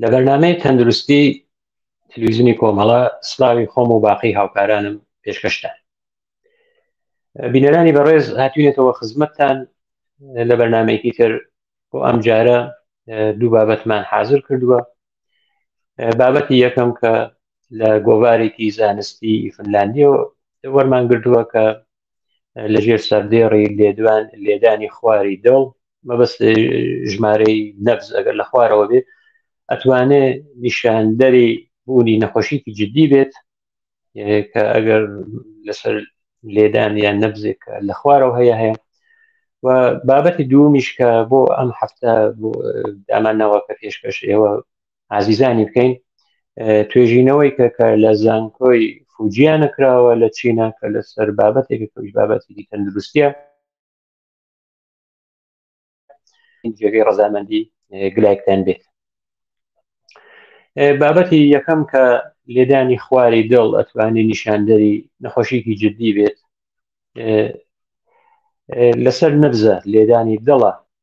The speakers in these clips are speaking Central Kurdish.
لە بەرنمەی تەندروستی تلویزیونی کۆمەڵە سلاوی خۆم و باقی هاوکارانم پێشکەشتان بینەرانی بەڕێز هاتوینێتەوە خزمەتتان لە بەرنمەیەکی تر بۆ ئەم جارە دوو بابەتمان حاضر کردووە بابەتی یەکەم کە لە گۆوارێکی زانستی فنلاندیەوە وەرمان گردووە کە لە ژێر سەردێڕی لێدوان لێدانی خواری دڵ مەبەست ژمارەی نەبز ئەگەر لە خوارەوە بێت ئەتوانێ نیشاندەری بوونی نەخۆشیی جددی بێت کە ئەگەر لەسەر لێدان یان نەبزێک لە خوارەوە هەیە هەیە و بابەتی دومیش کە بۆ ئەم هەفتە دامانەوە کە پێشکەش ئێوە ئازیزانی بکەین توێژینەوەی کە کە لە زانکۆی فوجیانە کراوە لە چینا کە لەسەر بابەتێک کەویش بابەتێکی تەندروستە جێگەی ڕزامەندی گلایکتان بێت بابەتی یەکەم کە لێدانی خواری دڵ ئەتوانی نیشاندەری نەخۆشیکی جددی بێت لەسەر نەبزە لێدانی دڵە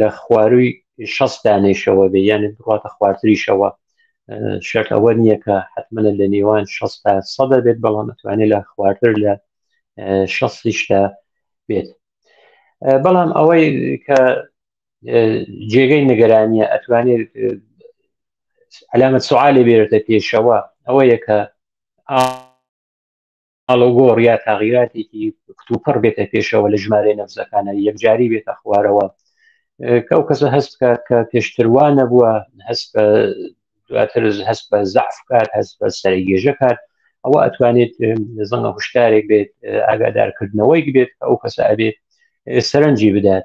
لە خواروی شەست دانێشەوە بێ یانە بڕاتە خوارتریشەوە شەک ئەوە نییە کە حتممەە لە نێوان شەستا سەدە بێت بەڵام ئەتوانێت لە خوارتر لە شەستیشدا بێت بەڵام ئەوەی کە جێگەی نیگەرانیە ئەتوانێت علامە سوعاالێ بێرتە پێشەوە ئەوەیە کە ئاڵۆگۆڕ یا تاغیراتێکی کتوپڕ بێتە پێشەوە لە ژمارە نەفزەکانە یەکجاری بێتە خوارەوە کە ئەو کەسە هەست بکات کە پێشتروانە بووە هەست بە دواتر هەست بە زعف کات هەست بە سەرگێژە کات ئەوە ئەتوانێت زەنگە هوشدارێک بێت ئاگادارکردنەوەی بێت ئەو کەسە ئەبێت سەرنجی بدات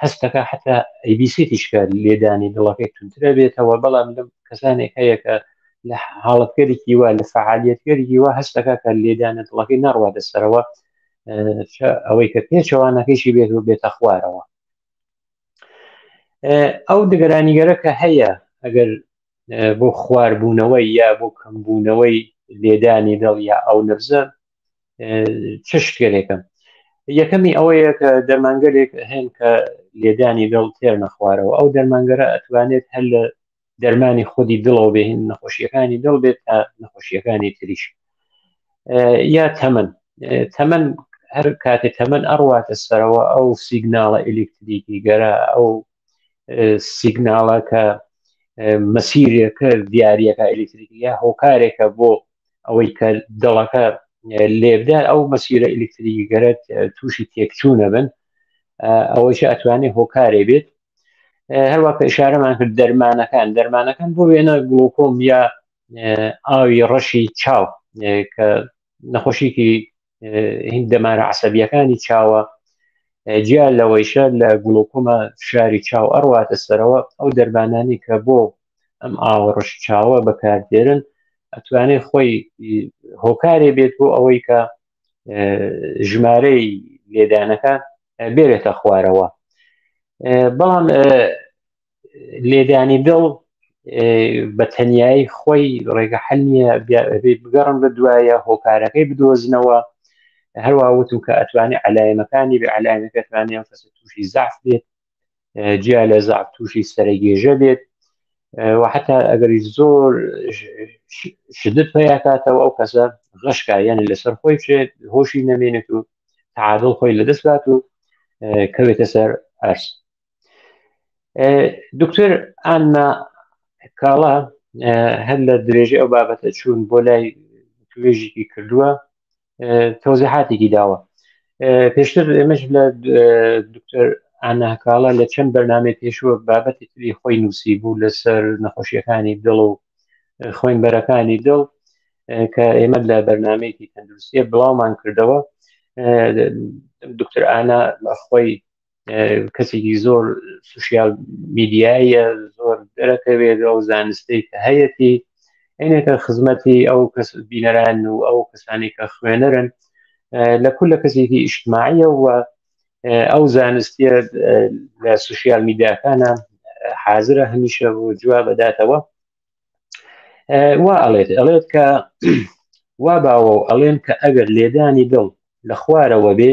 هەستەکە حتا ئەیبیسێتی شکە لێدانی دڵەکەی تونترە بێتەوە بەڵام لەم کەسانێک هەیە کە لە حاڵەتگەرێکی وە لە فعالیتگەرێکی وە هەستەکە کە لێدانە دڵەکەی نەڕوا دەسەرەوە ئەوەی کە پێچەوانەکەیشی بێت و بێتە خوارەوە ئەو دگەرانیگەرە کە هەیە ئەگەر بۆ خواربوونەوەی یا بۆ کەمبوونەوەی لێدانی دڵ یا ئەو نەبزە چ شتێنێکە یەکەمی ئەوەیە کە دەرمانگەلێک هەن کە لێدانی دڵ تێر نەخوارەوە ئەو دەرمانگەرە ئەتوانێت هەر لە دەرمانی خودی دڵەوە بێن نەخۆشیەکانی دڵ بێت تا نەخۆشیەکانی تریش یا تەمەن تەمەن هەر کاتێ تەمەن ئەڕواتە سەرەوە ئەو سیگناڵە ئەلکتریکی گەرە ئەو سیگناڵە کە مەسیرەکە دیارەکە ئەلیکتریکە هۆکارێکە بۆ ئەوەی کە دڵەکە لێبدار ئەو مەسیرە ئەلیکتریکی گەرت تووشی تێکچوونە بن ئەوەیش ئەتوانێت هۆکارێ بێت هەروە کە ئشارەمان کرد دەرمانەکان دەرمانەکان بۆ وێنە گڵۆکۆم یا ئاوی ڕەشی چاو کە نەخۆشیکی هین دەمارە عسەبیەکانی چاوە جیا لەوەیشە لە گوڵۆکۆمە فشاری چاو ئەڕواتە سەرەوە ئەو دەربانانی کە بۆ ئەم ئاوەڕش چاوە بەکاردێرن ئەتوانێت خۆی هۆکارێ بێت بۆ ئەوەی کە ژمارەی لێدانەکە بێرێتە خوارەوە بەڵام لێدانی دڵ بە تەنایی خۆی ڕێگە حل نییە بگەڕن بە دوایە هۆکارەکەی بدۆزنەوە هەروە وتم کە ئەتوانی علایەنەکانی بە علایەنەکەتوانانی ئەم کەسە تووشی زاف بێت جیا لە زاف تووشی سەرگێژە بێت و حتا ئەگەری زۆر شدت پیاکاتەوە ئەو کەسە غەشکا یعنی لەسەر خۆی بچێت هۆشی نەمێنێت و تعادڵ خۆی لەدەست بات و کەوێتە سەر ئەرس دکتۆر ئانا کاڵا هەر لە درێژە ئەو بابەتە چوون بۆ لای توێژێکی کردووە تۆزیحاتێکی داوە پێشتر ئێمەش لە دکتۆر ئاناکاڵە لە چەند بەرنمەی پێشوە بابەتی تری خۆی نووسی بوو لەسەر نەخۆشیەکانی دڵ و خوێن بەرەکانی دڵ کە ئێمە لە بەرنمەیەکی تەندروستیە بڵاومان کردەوە دکتۆر ئانا خۆی کەسێکی زۆر سوسیال میدیایە زۆر دەرەکەوێت ئەو زانستەی کە هەیەتی عینەکە خزمەتی ئەو کەس بینەران و ئەو کەسانی کە خوێنەرن لە کول لە کەسێکی ئیشتماعیە و ئەو زانستیە لە سوسیال میدیاکانە حازرە هەمیشە بۆ جواب بەداتەوە وا ئەڵێت ئەڵێت کە وا باوە و ئەڵێن کە ئەگەر لێدانی دڵ لە خوارەوە بێ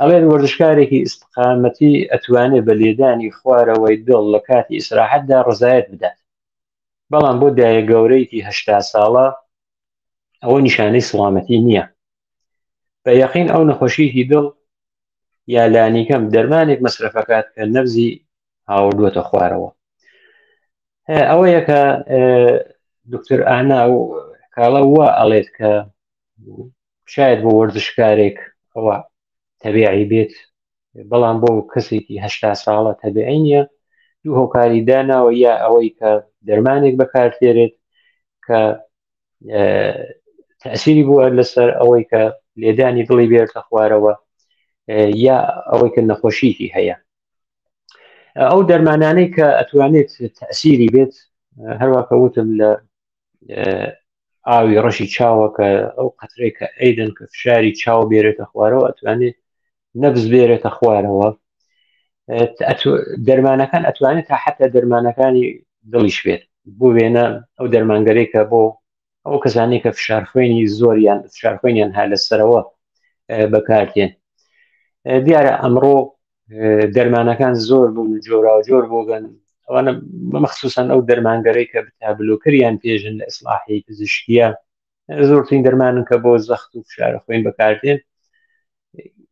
ئەڵێن وەرزشکارێکی ئیسقامەتی ئەتوانێت بە لێدانی خوارەوەی دڵ لە کاتی ئیسراحەتدا ڕزایەت بدات بەڵام بۆ دایە گەورەیەکی هشتا ساڵە ئەوە نیشانەی سڵامەتی نییە بە یەقین ئەو نەخۆشیی دڵ یا لانیکەم دەرمانێک مەسرفەکات کە نەبزی هاوردووەتە خوارەوە ئەوە یەکە دکتر ئانا و کاڵە وا ئەڵێت کە شاید بۆ وەرزشکارێک ئەوە تەبیعی بێت بەڵام بۆ کەسێکی هشتا ساڵە تەبیعی نیە دوو هۆکاری داناوە یا ئەوەی کە دەرمانێک بەکارتێرێت کە تەسیری بووە لەسەر ئەوەی کە لێدانی دڵی بێرتە خوارەوە یا ئەوەی کە نەخۆشیکی هەیە ئەو دەرمانانەی کە ئەتوانێت تەسیری بێت هەروەکە وتم لە ئاوی ڕەشی چاوە کە ئەو قەترێک کە ئەیدن کە فشاری چاو بێرێتە خوارەوە ئەتوانێت نەبز بێرێتە خوارەوە دەرمانەکان ئەتوانێت تا حتا دەرمانەکانی دڵیش بێت بۆ وێنە ئەو دەرمانگەرێکە بۆ ئەو کەسانی کە فشار خوێنی زۆریان فشار خوێنیان هەر لەسەرەوە بەکارتێن دیارە ئەمڕۆ دەرمانەکان زۆر بوون جۆرا جۆر بۆگەن ئەوانە مەخصوسن ئەو دەرمانگەرەی کە بتابلۆکریان پێژن لە ئیسلاحی پزیشکیە زۆرترین دەرمانن کە بۆ زەخت و فشارە خوێن بەکاردێن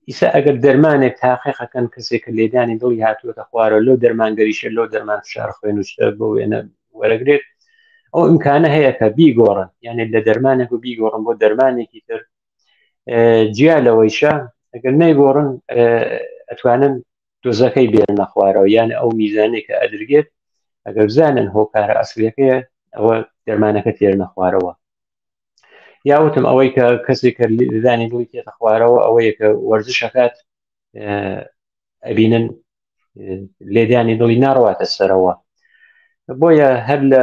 ئیسا ئەگەر دەرمانێک تاقیقەکەن کەسێک کە لێدانی دڵی هاتووەتە خوارە لۆ دەرمانگەریشە لۆ دەرمان فشار خوێن وشتە بۆ وێنە وەرەگرێت ئەو امکانە هەیە کە بیگۆڕن یعنی لە دەرمانێک و بیگۆڕن بۆ دەرمانێکی تر جیا لەوەیشە ئەگەر نەیگۆڕن ئەتوانن دۆزەکەی بێنە خوارەوە یان ئەو میزانێک کە ئەدرگێت ئەگەر بزانن هۆکارە ئەسلەکەیە ئەوە دەرمانەکە تێرنە خوارەوە یاوتم ئەوەی کە کەسێک کە دانی دڵی تێتە خوارەوە ئەوەیە کە وەرزشەکات ئەبینن لێدانی دڵی ناڕواتە سەرەوە بۆیە هەر لە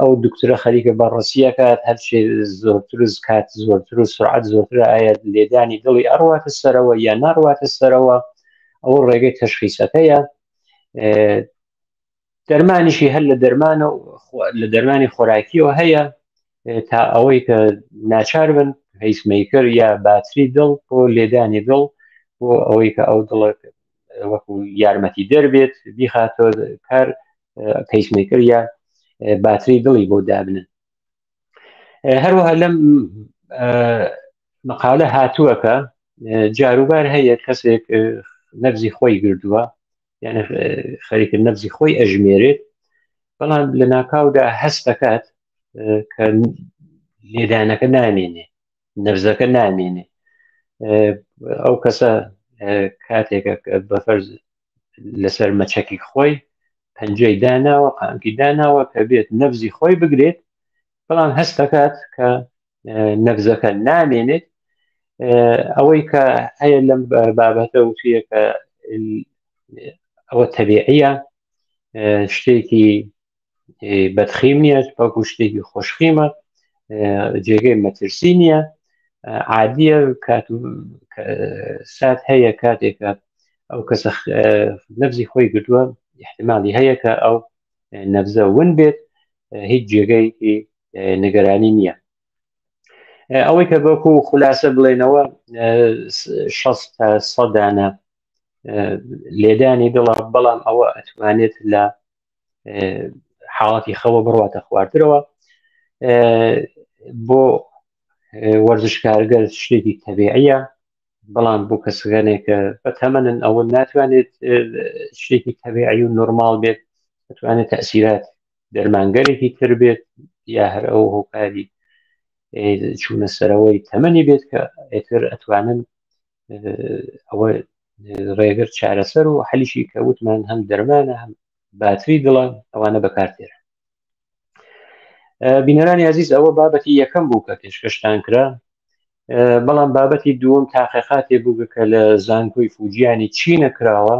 ئەو دکترە خەریکە بە ڕسیەکات هەرچێ زۆرترز کات زۆرتر و سرعات زۆرتر ئایا لێدانی دڵی ئەڕواتە سەرەوە یا ناڕواتە سەرەوە ئەو ڕێگەی تەشخیسەکەیە دەرمانیشی هەر لە دەرمانە لە دەرمانی خۆراکیەوە هەیە تا ئەوەی کە ناچار بن هیسمیکر یا باتری دڵ بۆ لێدانی دڵ بۆ ئەوەی کە ئەو دڵ وەکو یارمەتی دەربێت بیخاتۆ کار پیسمیکر یا باتری دڵی بۆ دابنن هەروەها لەم مقالە هاتووەکە جاروبار هەیە کەسێک نەبزی خۆی گردووە یعنی خەریکە نەبزی خۆی ئەژمێرێت بەڵام لە ناکاودا هەست دەکات کە لێدانەکە نامێنێ نەبزەکە نامێنێ ئەو کەسە کاتێکە بەفەرز لەسەر مەچەکی خۆی پەنجەی داناوە قانکی داناوە کە بێت نەفزی خۆی بگرێت بەڵام هەست دەکات کە نەفزەکە نامێنێت ئەوەی کە هەیە لەم بابەتە وتیە کە ئەوە تەبیعە شتێکی بەدخیم نیە بەڵکو شتێکی خۆشخیمە جێگەی مەترسی نییە عادیە کات و سات هەیە کاتێکە ئەو کەسە نەبزی خۆی گردووە احتمالی هەیە کە ئەو نەبزە ون بێت هیچ جێگەی نگەرانی نییە ئەوەی کە بەکو خولاسە بڵێنەوە تا سەدانە لێدانی دڵە بەڵام ئەوە ئەتوانێت لە حاڵاتی خەوە بڕاتە خواردرەوە بۆ وەرزشکارگەر شتێکی تەبیعە بەڵام بۆ کەسگەنێک کە بە تەمەنن ئەوە ناتوانێت شتێکی تەبیعی و نۆرمال بێت دەتوانێت تەسیرات دەرمانگەرێکی تر بێت یا هەر ئەو هۆکاری چوونە سەرەوەی تەمەنی بێت کە ئێتر ئەتوانن ئەوە ڕێگر چارەسەر و حەلیشی کە وتمان هەم دەرمانە هەم باتری دڵە ئەوانە بەکارتێرە بینەرانی عزیز ئەوە بابەتی یەکەم بوو کە پێشکەشتان کرا بەڵام بابەتی دووەم تاقیقاتێ بوو کە لە زانکۆی فوجیانی چی نەکراوە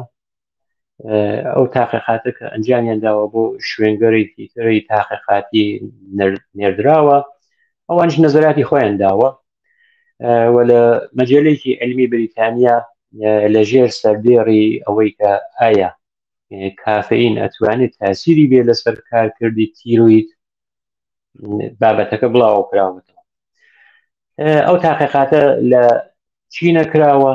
ئەو تاقیقاتە کە ئەنجامیان داوە بۆ شوێنگەرێکی تری تاقیقاتی نێردراوە ئەوانش نەزراتی خۆیان داوە و لە مەجلێکی علمی بریتانیا لە ژێر سەردێڕی ئەوەی کە ئایا کافین ئەتوانێت تاسیری بێ لەسەر کارکردی تیرویت بابەتەکە بڵاوە کراوەتەوە ئەو تاقیقاتە لە چینە کراوە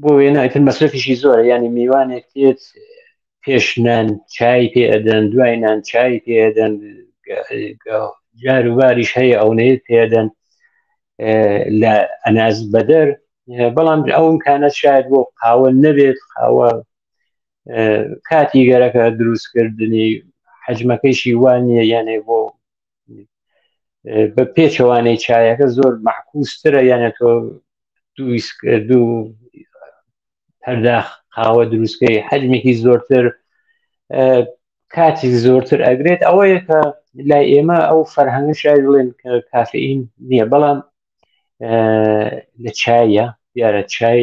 بۆ وێنە ئەتر مەسرفیشی زۆرە ینی میوانێک تێت پێش نان چای پێ ئەدەن دوای نان چای پێ ئەدەن جار و باریش هەیە ئەونەیە پێدەن لە ئەناز بەدەر بەڵام ئەوم کانە شاید بۆ قاوە نەبێت قاوە کاتی گەرەکە دروستکردنی حەجمەکەیشی وان نیە یانێ بۆ بە پێچەوانەی چایەکە زۆر مەحکوسترە یانە تۆ دوو هەرداخ قاوە دروستکەی حەجمێکی زۆرتر کاتی زۆرتر ئەگرێت ئەوەیە کە لای ئێمە ئەو فەرهەنگ شای بڵێن کە کافئین نییە بەڵام لە چایە دیارە چای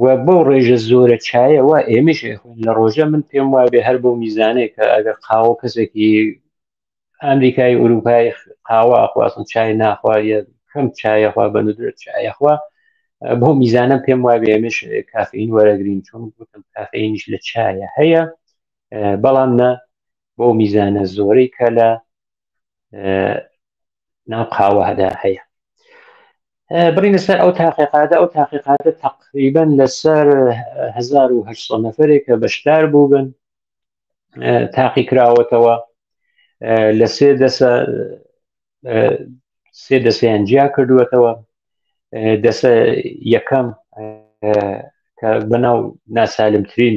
و بەو ڕێژە زۆرە چایەوە ئێمەش لە ڕۆژە من پێم وابێ هەر بۆ میزانێک کە ئەگەر قاوە کەسێکی ئەمریکای ئوروپای قاوە ئەخوازم چای ناخوا کەم چایەخوا بە ندرێت چایەخوا بۆ میزانە پێم وابێ ئێمەش کافین وەرەگرین چون گوتم کافینیش لە چایە هەیە بەڵام نە بۆ میزانە زۆرەی کە لە ناو قاوەدا هەیە برینە سەر ئەو تاقیقاتە ئەو تاقیقاتە تقریبن لەسەر 1970 نەفرێک کە بەشدار بووبن تاقی کراوەتەوە لە سێ دەسە سێ دەسیان جیا کردووەتەوە دەسە یەکەم کە بەناو ناسالمترین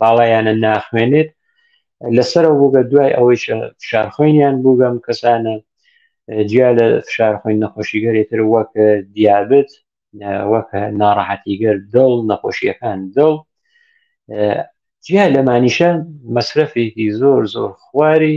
باڵایانە ناخوێنێت لەسەرەوە بووگە دوای ئەوەی فشارخۆینیان بووگەم کەسانە جیا لە فشارخۆین نەخۆشیگەرێتر وەک دیابت وەک ناڕەحەتیگەر دڵ نەخۆشیەکان دڵ جیا لەمانیشە مەسرەفێکی زۆر زۆر خواری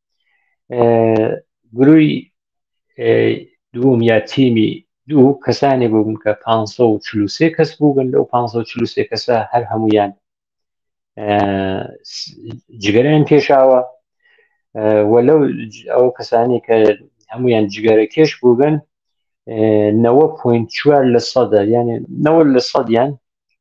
گروی دووم یا تیمی دوو کەسانی بووم کە 543 کەس بوو بن لەو 543 کەسە هەر هەمویان جگەرەیان کێشاوە و لەو ئەو کەسانی کە هەمویان جگەرە کێش بوو بن 90.4 لە سەدە یعنی 90 لە سەدیان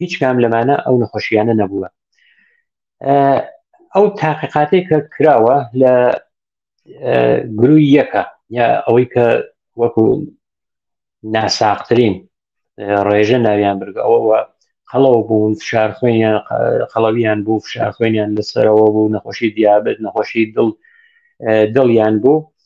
هیچ کام لەمانە ئەو نەخۆشییانە نەبووە ئەو تاقیقاتێک کە کراوە لە گروی یەکە یا ئەوەی کە وەکو ناساقترین ڕێژە ناویان برگە ئەوەوە هەڵەو بوون فشار خوێنیان خەڵەویان بوو فشار خوێنیان لەسەرەوە بوو نەخۆشی دیابێت نەخۆشی دڵ دڵیان بوو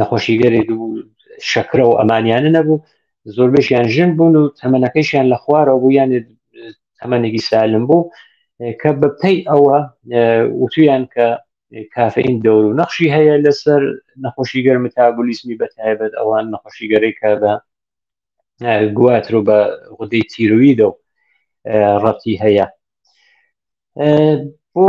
نەخۆشی گەرێک بوو شەکرە و ئەمانیانە نەبوو زۆربەشیان ژن بوون و تەمەەکەشیان لە خوارەوە بوو یان تەمەێکی سالم بوو کە بەپی ئەوە وتویان کە کافین دەور و نەخشی هەیە لەسەر نەخۆشی گەر متابولیسمی بە تایبەت ئەوان نەخۆشی گەرەی کە بە گواتر و بە غودەی تیرویدە و ڕەتی هەیە بۆ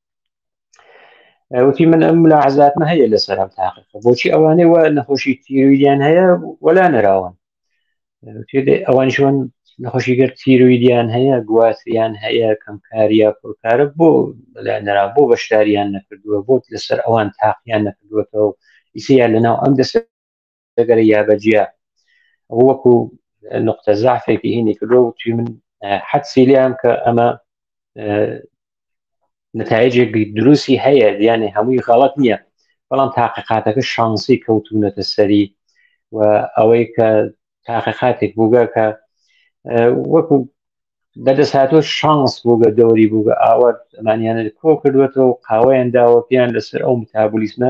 وتی من ئەم لا عزاتمە هەیە لە سەرم تاقی بۆچی ئەوانەی وە نەخۆشی تیرویدیان هەیە وەلا نراون ئەوانی شوان نەخۆشی گەر تیرویدیان هەیە گواتیان هەیە کەمکاریە پڕکارە بۆ لە نرا بۆ بەشداریان نەکردووە بۆت لەسەر ئەوان تاقییان نەکردوەتەوە ئیسیان لەناو ئەم دەسە گەرە یابەجیا ئەو وەکو نقطە زعفێکی هینی کردو توی من حەدسی لیان کە ئەمە نتایجێک دروستی هەیە دیانێ هەمووی غەڵت نییە بەڵام تاقیقاتەکە شانسی کەوتونەتە سەری و ئەوەی کە تاقیقاتێک بووگە کە وەکو بەدەست هاتۆ شانس بووگە دەوری بووگە ئاوە ئەمانیانە کۆ کردوێتەوە قاوەیان داوە پێیان لەسەر ئەو متابولیسمە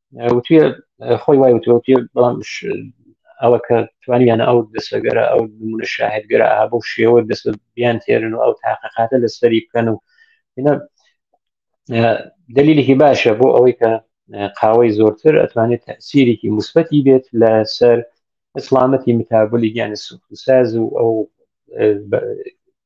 وتی خۆی وای وتی بەڵام ئەوە کە توانیانە ئەو دەسەگەرە ئەو نمونە شاهدگەرە ئا بۆ شێوە دەست بیان تێرن و ئەو تاقەقاتە لە سەری بکەن و دلیلێکی باشە بۆ ئەوەی کە قاوەی زۆرتر ئەتوانێت تەسیرێکی مثبەتی بێت لەسەر ئەسلامەتی متابلی گیانی سوخساز و ئەو